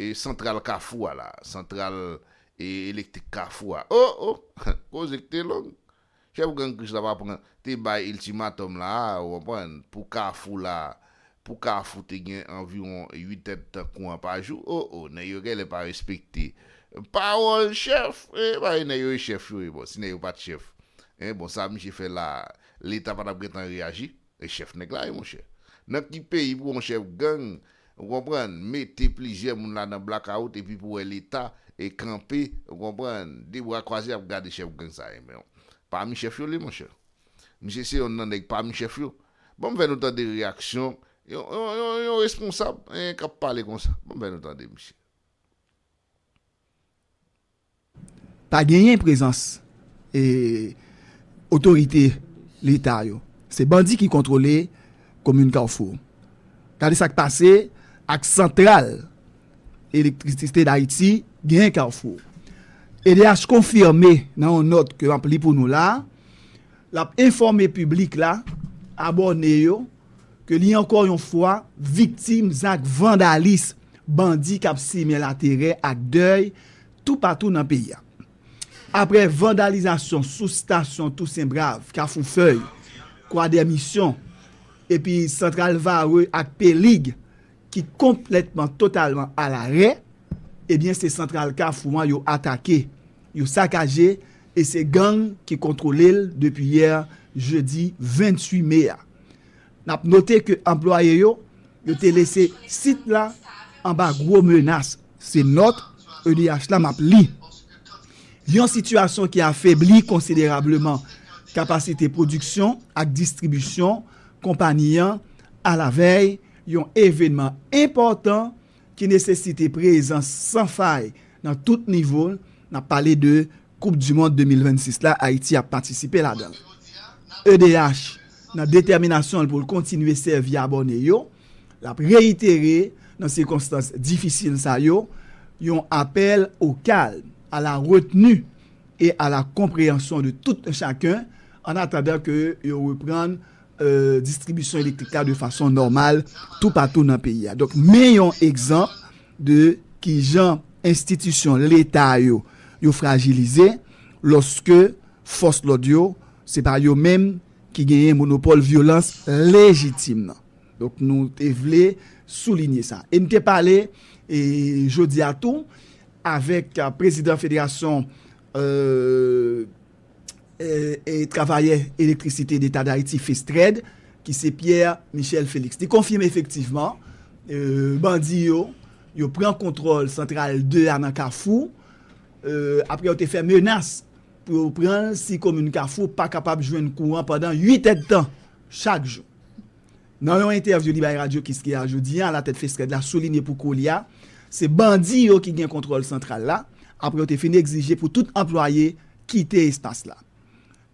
E santral kafou a la. Santral e elektrik kafou a. O! O! Koze k te long. Chèf gang Krich la pa pran, te bay iltimatòm la a, ou konprann, pou kafou la, pou kafou te gen anviwon 8 èd tan kouran pa jou. O! O! Nèg yo gèlè pa respekte pawòl chèf. E bay nèg yo e chèf yo e bon si nèg yo pa t chèf. E bon sa misye fè la a. Leta pa t ap gen tan reyaji. E chèf nèg la ye monchè. Nan ki peyi pou yon chèf gang, ou konprann, mete plizyè moun la nan blakawout epi pou wè leta e kanpe, ou konprann, de bra kwaze ap gade chèf gang sa e menw. Pami chèf yo l ye monchè. Misye se yonn nan nèg pami chèf yo. Banm fè nou tande reyaksyon yon yon yon yon responsab, hein, kap pale konsa. Banm fè nou tande misye. Pa genyen prezans otorite leta yo. Se bandi ki kontwole komin Kafou. Gade sa k pase ak santral elektrisite Dayiti genyen Kafou. Edh konfime nan yon nòt ke m ap li pou nou la a, l ap enfòme piblik la, abòne yo, ke li ankò yon fwa viktim zak vandalis bandi kap simen laterè ak dèy toupatou nan peyi a. Aprè vandalizasyon sou stasyon Tousen Brav, Kafou Fèy, Kwadèmisyon, epi Santral Varreux ak Pelig ki konplètman totalman alarè, ebyen se santral Kafou an yo atake Yo sakaje e se gang ki kontwole l depi yè jedi 28 me a. N ap note ke anplwaye yo, yo te lese sit la anba gwo menas, se nòt edh la m ap li. Yon sitiyasyon ki afebli konsiderableman kapasite pwodiksyon ak distribisyon konpani an alavèy yon evenman enpòtan ki nesesite prezans san fay nan tout nivo, n ap pale de koup di mond 2026 la Ayiti ap patisipe ladan l. Edh nan detèminasyon l pou l kontinye sèvi abòne yo, l ap reyitere nan sikonstans difisil sa yo yon apèl o kalm, a la retni e a la konpreyanson de tout un chacun ann atandan ke yo reprann distribisyon elektrik la de fason nòmal toupatou nan peyi a. Donk men yon egzanp de kijan enstitisyon leta yo, yo frajilize lòske fòs lòd yo, se pa yo menm ki genyen monopòl vyolans lejitim nan. Donk nou te vle soulinye sa. E n te pale jodi a tou avèk prezidan federasyon. travayè elektrisite Leta Dayiti, Festred, ki se Pierre Michel Felix. Li konfime efektivman bandi yo, yo pran kontwòl santral 2 a nan Kafou, apre yo te fè menas pou yo pran l si komin Kafou pa kapab jwenn kouran pandan 8 èdtan chak jou. Nan yon entèvyou li bay Radyo Kiskeya jodi a, latèt Festred la soulinye pou koulya, se bandi yo ki gen kontwòl santral la, apre yo te fin egzije pou tout anplwaye kite espas la.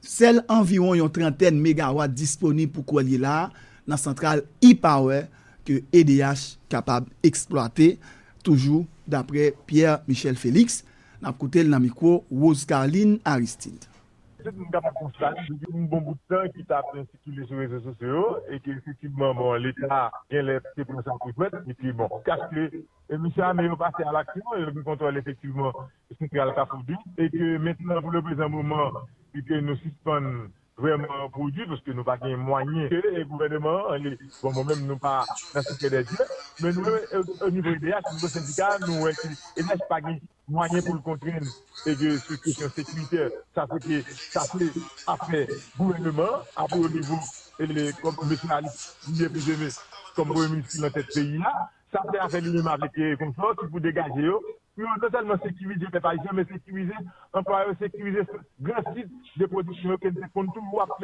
Sèl anviwon yon trantèn megawat disponib pou koulye la a nan santral E-Power ke edh kapab eksplwate, toujou dapre Pierre Michel Felix, n ap koute l nan mikwo Rose Carline Aristide. Tout moun kapab konstate depi yon bon bout tan ki sa ap byen sikile sou rezo sosyo yo e ke efektivman bon leta genlè te pran sa pou jwèt e ke bon kash ke mesye ame yo pase a laksyon yo gen kontwòl efektivman santral kafou dim e ke mentnan pou le prezan moman e ke nou sispann vrèman pwodwi paske nou pa gen mwayen ke e gouvèneman an li bon mwen menm nou pa nan sekrè dè dye men nou menm o nivo edh nivo sendika nou wè ke edh pa gen mwayen pou l kontrenn e ke sou kesyon sekiritè sa se te sa se afè gouvèneman an a pi wo nivo e kòm mesye Alix li ye plize me kòm premye minis ki nan tèt peyi a sa se afè li menm avèk konsò ki pou degaje yo pou yo non sèlman sekirize pèp ayisyen men sekirize anplwaye yo sekirize gran sit de pwodiksyon yo ke n te konn toujou ap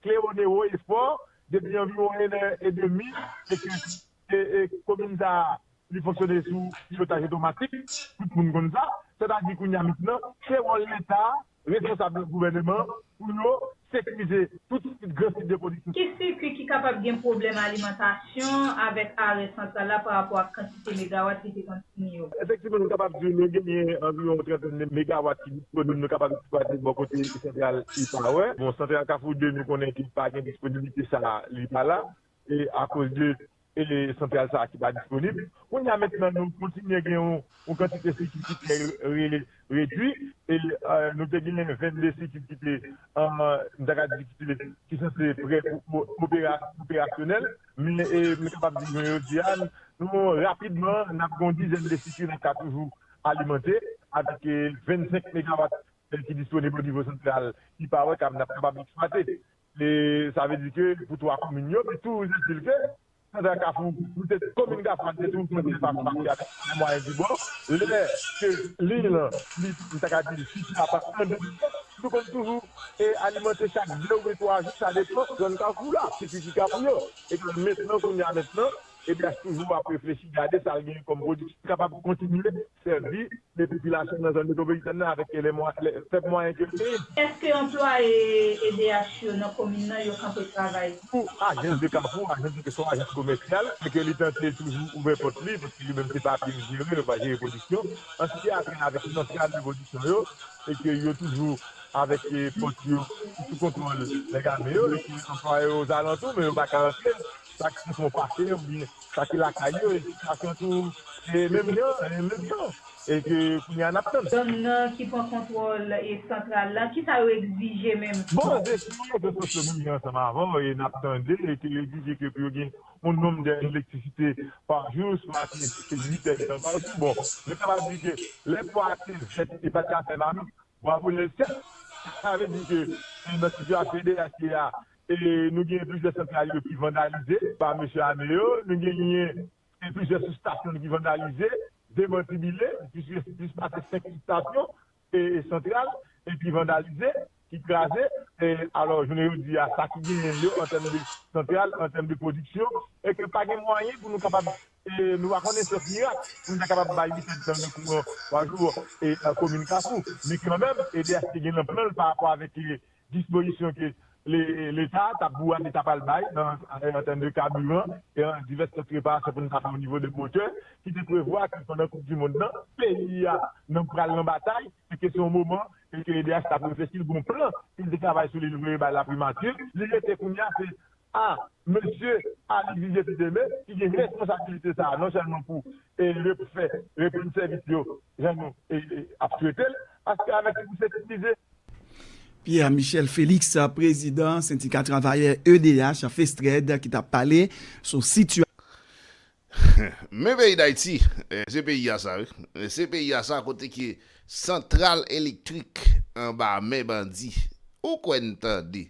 klewone wo e fò depi anviwon 1 è e demi e ke. Komin sa a, li fonksyone sou pilotaj otomatik, tout moun konn sa. Sètadi kounye a mentnan, se wòl Leta, responsab gouvèneman pou yo sekirize tout sit, gran sit de pwodiksyon. Ki sikui ki kapab gen pwoblèm alimantasyon avèk arè santral la parapò ak kantite megawat li te konn founi yo? Efektivman, nou kapab di nou genyen anviwon yon trantèn de megawat ki disponib nou kapab eksplwate bò kote santral Ipawer. Bon, santral Kafou 2, nou konnen ke pa gen disponiblite sa a, li pa la. akoz de santral sa ki pa disponib. Kounya mentnan nou kontinye gen yon kantite sikil ki trè redwi, nou te gen 22 sikil ki te m ta ka di ki sanse prè pou operasyonèl, men m kapab di jounen jodi a nou rapidman n ap gen yon dizèn de sikil ki ka toujou alimante avèk 25 megawat ki disponib onivo santral Ipawèy k ap n ap kapab eksplwate. E sa vle di ke pou 3 komin yo, li toujou vle di ke Santral Kafou, li te komin Kafou a, li te toujou konn fè fas ak Kafou nan mwayen Dibò. Lè ke liy lan, li, m ta ka di li site a pa an 2 pati, li konn toujou alimante chak 2 oubyen 3 jou, sa depan zòn Kafou la, sikriti Kafou yo. Epi mentnan, kounye a mentnan, EDH toujou ap reflechi gade sa l gen kòm pwodiksyon ki kapab kontinye sèvi de popilasyon nan zòn metwopolitèn nan avèk fèb mwayen ke l genyen. Èske anplwaye edh yo nan komin nan yo kanpe travay? Pou ajans de Kafou, ajans di ke se yon ajans komèsyal e ke li tante toujou ouvè pòt li paske li menm se papye l jere, li pa jere pwodiksyon. An se te apre avèk lantray de pwodiksyon yo e ke yo toujou avèk pòt yo sou kontwòl nèg ame yo e ke anplwaye yo ozalantou men yo pa ka antre. Sa ki sou pase oubyen sa ki lakay yo e sitiyasyon tou se menm jan, menm jan e ke kounye a n ap tann. Gang nan ki pran kontwòl e santral la, kisa yo egzije menm? Bon, depi yon rezo sosyo menm jan ansanm avan w e n ap tande e ke yo egzije ke pou yo gen yon nonm dè elektrisite pa jou, swa ke se 8 è de tan pa jou. Bon, nou ta va di ke lè po a te vèt e pa te ka fè mamit, bwavo Nèl Sèt. Sa vle di ke nan sitiyasyon ideyal ki ye a, Nou genyen plizyè santral yo ki vandalize pa mesye ame yo. Nou genyen plizyè sibstasyon ki vandalize, demantibile. Plis pase 5 sibstasyon e santral ki vandalize, ki kraze. Alò, jounen jodi a, sa ki genyen yo an tèm de santral, an tèm de pwodiksyon, e ke pa gen mwayen pou nou kapab, nou pa konnen syans mirak, pou nou ta kapab bay li kèk tan de kouran 3 jou komin Kafou. Men kanmenm, EDH te gen nan plan l pa rapò avèk Dispozisyon ke Leta a ta pwouwa li ta pral bay nan an tèm de kaburan e nan divès lòt reparasyon pou nou ta fè onivo de motè ki te prevwa ke pandan koup di mond lan peyi a nan pral nan batay e ke se yon moman e ke edh t ap reflechi l gen yon plan ke l te travay sou li l voye bay laprimati li rete kounye a se a Mesye Ali Vivier Piteme ki gen responsabilite sa a non sèlman pou refè, reponn sèvis yo jan nou ap swete l, paske avèk li pou sekirize. Pierre Michel Felix, prezidan sendika travayè edh, Festred, ki t ap pale sou sitiyasyon. Men peyi Dayiti, se peyi a sa wi. Se peyi a sa kote ke santral elektrik anba men bandi. Ou kwè n tande.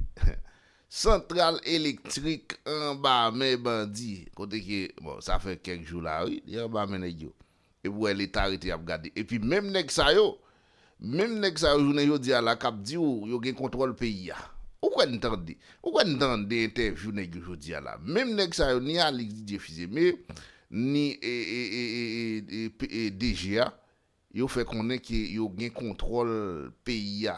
Santral elektrik anba men bandi kote ke bon sa fè kèk jou la wi li anba men nèg yo epi ou wè leta rete ap gade epi menm nèg sa yo menm nèg sa yo jounen jodi a la kap di ou yo gen kontwòl peyi a ou kwè n tande ou kwè n tande entèvyou nèg yo jodi a la menm nèg sa yo ni Alix Didier Fils-Aimé ni DG a yo fè konnen ke yo gen kontwòl peyi a.